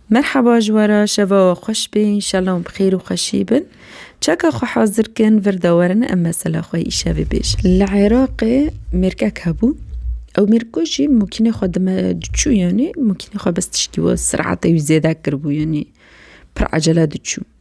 Merhaba ji we re şeva we xweş be înşellah em bi xêr û xweşî bin. Çeka xwe hazir kin vir de werin em mesela xwe îşevê bêjin. Li Iraqê mêrkek hebû. Ew mêrko jî mokînê xwe dime diçû yanî mokînê xwe bes tiştî wê siratê wî zêde kiribû yanî pir ecele diçû.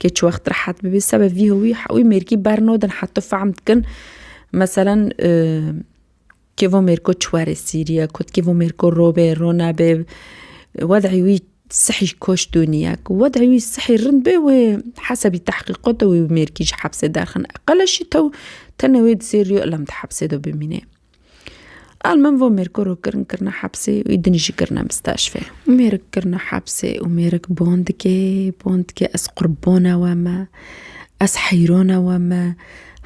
Kê çi wext rehet bibî sebe vî hewî hewî mêrkî bernodin heto fehm dikin meselen kêvo mêrko çi were Sîriye kot kêvo mêrko robê ronabê wedî wî sihî koş dûniye ku wedî wî sihî rind bê wê hesebî tehqîqot de wî mêrkî ji hepsê derxin qeleşî tew tenê wê di sêriyo ilam di hepsê de bimînê. Al min vo Mêrkur û kirin kirine hepsê wî din jî kirine misteşfê. Mêrik kirine hepsê û mêrik bon dike bon dike ez qurbona we me ez heyrona we me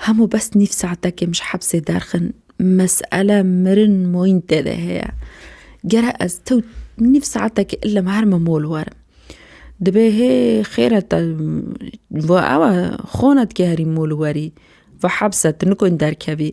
hemû bes nîv saetekê min ji hepsê derxin mesele mirin moyîn tê de heye gere ez tew nîv saetekê ile min her min mol werim dibê hê xêr e te vo ew e xona dike herî mol werî vo hepse tu nikon derkevî.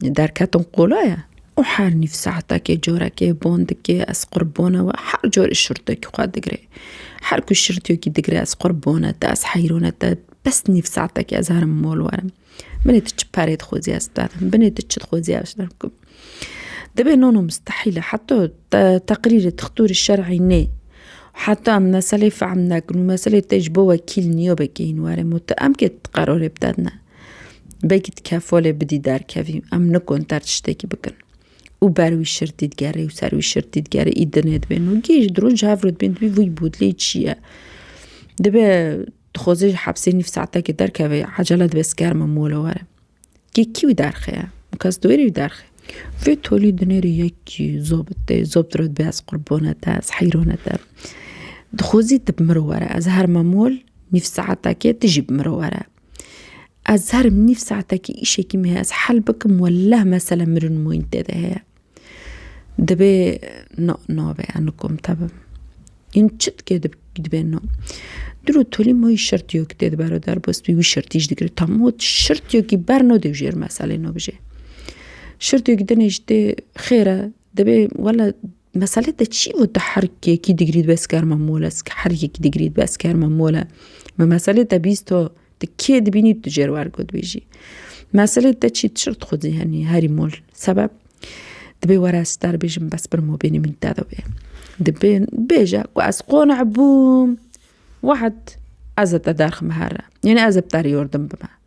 Derketin qola ye û her nîv saetekê, corekê, bondikê ez qurbone we her corê şirtekî xwe digirê. Her ku şirtekî digirê ez qurbone te, ez heyrone te bes nîv saetekê ez herim mol werim. Binê tu çi perê dixwazî ez bidim, binê tu çi dixwazî ez bikim. Divê non û mistehîl e heta te teqrîrê dixtorê şer'î nê, heta em meseleyê fehm nekin û meseleyê te ji bo wekîl niyobekê hîn were mû tu emkê tu qerarê bide ne. Begî dike folê bidî derkevî, em nikon ter tiştekî bikin. Û ber wî şirtî digerê û ser wî şirtî digerê î dinê dibê nû. Gê ji dirûn ji hev re dibên dibî vî bû dilê çi ye. Dibe dixwaze ji hepsê nîv saetekê derkeve ecele dibe sikerme mole were. Gê kî wî derxe ye? Û kes dûrî wî derxe. Vê tolî dinê re yekî zobit tê. Zobit re dibê ez qurbone te, ez heyrone te. Dixwazî tu bi mir were. Ez her me mol nîv saetekê tu jî bi mir were. Ez her nîv saetekî îşekî me heye ez hel bikim weleh mesele mirin moyîn tê de heye. Dibê no navê ez nikom te bim. Yin çi dikê dibê no. Dilo tolî moyî şirtîyo ki tê di bero derbas bî wî şirtî jî digire tam ot şirtîyo kî ber no dêw jêr meselê no bijê. Şirtîyo kî dinê jî tê xêr e dibê wele Meselê te çi û tu her yekî digrî dibe ez kerma mol ez her yekî digrî dibe ez kerma mol e. Me meselê te bîst to tu kê dibînî tu cêr wer got bêjî. Meselê te çi çir tu xwe zîhenî herî mol sebeb dibê were ez te bêjim bes bir mobînî min te de bê. Dibê bêje ku ez qonic bûm wahed ez te derxim here. Yanî ez bi te re yordim bime.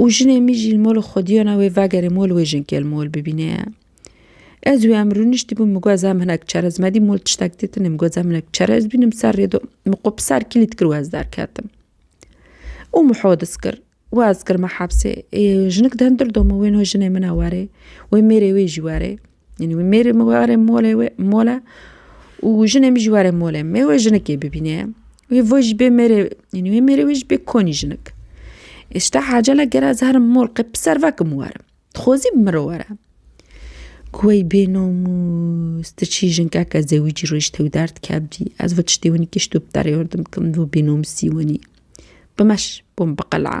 Û jinê mî jî li mol û xwediyana wê vegerê mol wê jinkê li mol bibîne. Ez wê em rûniştî bûn min got em hinek çerez me dî mol tiştek tê tune min got em hinek çerez bîn min ser rê do min xwe bi ser kilît kir wez derketim. Û min hodis kir wez kir me hepsê jinik di hindir do min wê no jinê min e were wê mêrê wê jî were. Yanî wî mêrê min were mole wê mole û jinê min jî were mole me wê jinekê bibîne wê vo jî bê mêrê yanî wê mêrê wê jî bê konî jinik îşta hecele gera ez herim mol qe bi ser vekim û werim dixwazî bi min re were ku wey bê namûs tu çî jinkeke zewicî roj tew derd kevdî ez vi tiştê winî kişt û bi derê hurdim kin vû bênamûsî winî bimeş bûm bi qeleya.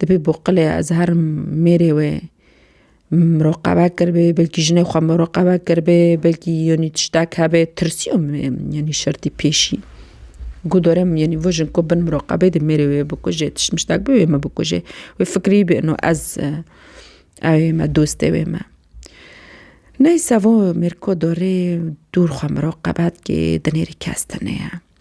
Dibê bo qilê Ezher mêrê wê miroqebe kiribê, belkî jinê xwe miroqebe kiribê, belkî yanî tiştek hebê, tirsiya yanî şertî pêşî. Ku dore min yanî vajin ku bin miroqebê dê mêrê wê bikujê tişt miştek bi wê me bikujê. Wê fikirî bê ino ez ew ê me dostê wê me. Neyse vo mêrko dorê dûr xwe miroqebe dikê dinêrî kes tune ye.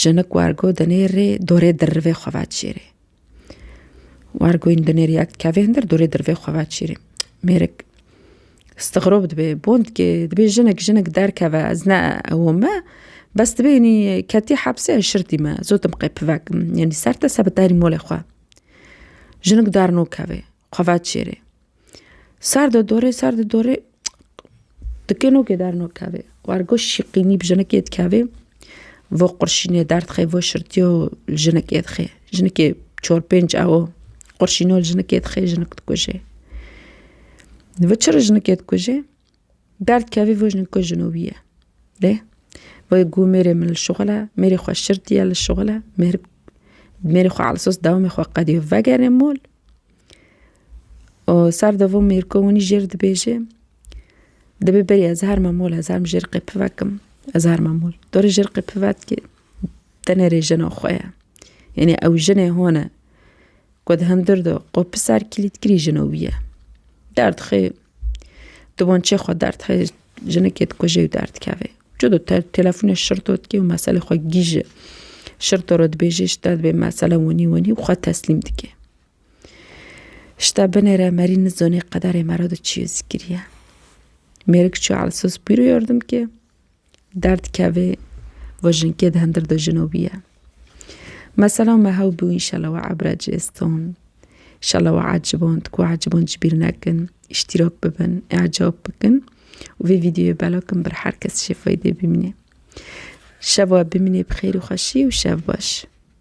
Jinik wergo dinê rê dorê dirrivê xwe ve çêrê. Wergoyîn dinê rê ya kevê hindir dorê dirrivê xwe ve çêrê. Mêrik stixirob dibê bond kê dibê jinik jinik derkeve ez ne ew me bes dibê inî ketî hepsê ez şirtî me zotim qey pivekim yanî ser te se bi derî molê xwe. Jinik darno kevê xwe ve çêrê. Ser di dorê, ser di dorê dikenokê dernakevê. War goş şîqînî bi jinekê dikevê, vo qurşînê derdixê, vo şirtîyo li jinekê dixê. Jinekê çor pênc ewo qurşîno li jinekê dixê, jinik dikujê. Di vir çi re jinekê dikujê? Derd kevê vê jin ku jino wî ye. Dê vê gû mêrê min li şixul e, mêrê xwe şir diye li şixul e, mêr mêrê xwe ala sos dewamê xwe qedîyo vegerê mol û ser de vê mêr ku winî jêr dibêje dibê berî ez herme mol ez herm jêr qê pivekim ez herme mol. Dorê jêr qê pivetkê tenê rê jina xwe ye. Yanî ew jinê hone Ku di hundir de qo piser kilîtkirî jino wî ye. Derdixê di wançê xwe derdixê jinikê dikuje û derdikeve. Çi do te telefonê şirto dike û meselê xwe gîje. Şirto re dibêje ji te dibê mesele winî winî û xwe teslîm dike. Ji te binêre merî nizanê qederê me re di çi ye zî kiriye. Mêrik çûye Elsiz pîro yardim ke. Derd kevê ve jinkê di hindir de jino bîye. Mesela me hew bû înşela we ebre ci iston. Înşela we ecibon di ku ecibon ji bîr nekin, îştîrak bibin, îcab bikin û vê vîdeoyê bela kin bir her kes şêfaydê bimîne. Şeva bimîne bi xêr û xweşî û şev baş.